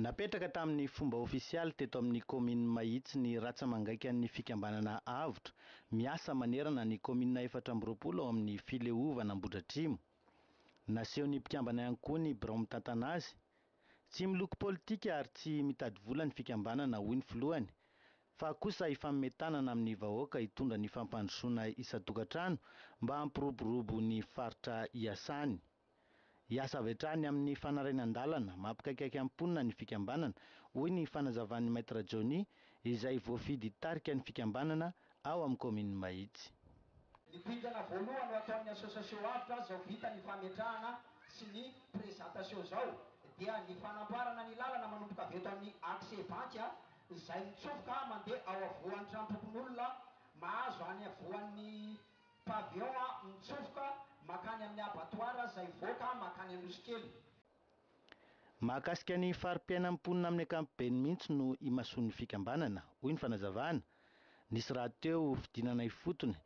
Napetraka tamin'ny fomba ofisialy teto amin'ny kaominina Mahitsy ny ratsa-mangaikan'ny fikambanana Avotra, miasa manerana ny kaominina efatra amby roapolo ao amin'ny fileovana Ambohidratrimo. Nasehon'ny mpikambana ihany koa ny birao mitantana azy. Tsy miloko politika ary tsy mitady vola ny fikambanana, hoy ny filohany. fa kosa hifanome tanana amin'ny vahoaka hitondra ny fampandrosoana isan-tokantrano mba hampiroborobo ny faritra iasany. Hiasa avy hatrany amin'ny fanarinan-dalana mampikaikaika ny mponina ny fikambanana, hoy ny fanazavan'i Maître Johnny izay voafidy hitarika ny fikambanana ao amin'ny kaominin'i Mahitsy. Ny dingana voalohany ho ataon'ny association avotra izao vita ny fametrahana sy ny présentation izao dia ny fanamboarana ny lalana manomboka avy eto amin'ny accès banky izay mitsofoka mandeha ao avoan'ny tranompokonolona mahazo any avoan'ny Pavillon mitsofoka mankany amin'ny Abattoir izay hivoaka mankany Anosikely. Mahakasika ny fari-piainan'ny mponina amin'ny ankapobeny mihitsy no imasoan'ny fikambanana, hoy ny fanazavana. Nisy rahateo fidinana ifotony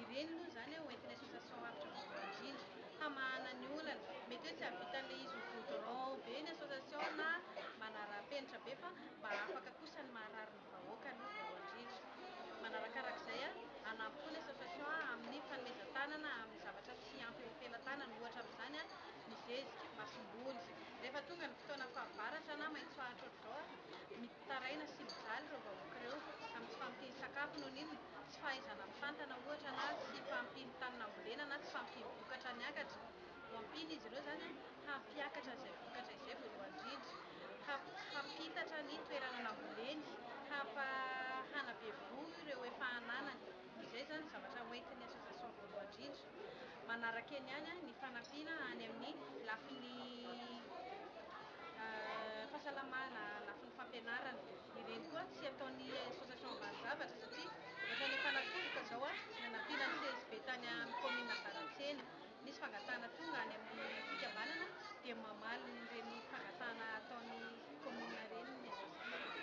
Ireny moa izany ho entin'ny association Avotra Voalohany Indrindra hamahana ny olana. Mety hoe tsy hahavitan'ilay izy ho goudron be ny association na manara-penitra be fa mba afaka kosa ny maharary ny vahoaka aloha voalohany indrindra. Manarakaraka izay, hanampy koa ny association amin'ny fanomezan-tanana amin'ny zavatra tsy ampy eo am-pelatanana, ohatra amin'izany ny zezika, masomboly. Rehefa tonga ny fotoana fahavaratra na maitsoahitra ohatr'izao, Taraina sy mijaly ireo vahoaka ireo amin'ny tsy fampian-tsakafo noho ny tsy fahaizana mitantana ohatra na tsy fampian'ny tany nambolena na tsy fampian'ny vokatra niakatra. Hoampiana izy ireo izany hampiakatra izay vokatra izay voalohany indrindra, hampitatra ny toerana namboleny, hampa hanabe voho ireo efa ananany. Izay izany zavatra hoentin'ny association voalohany indrindra. Manaraka eny ihany ny fanampiana any amin'ny lafiny fahasalamana, lafiny fampianarana. Ireny koa tsy ataon'ny association valo zavatra satria ohatrany efa natolotra izao ny hanampiana ny CSB tany amin'ny commune Ambaratsena. Misy fangatahana tonga any amin'ny fikambanana dia mamaly ireny fangatahana ataon'ny commune ireny ny association.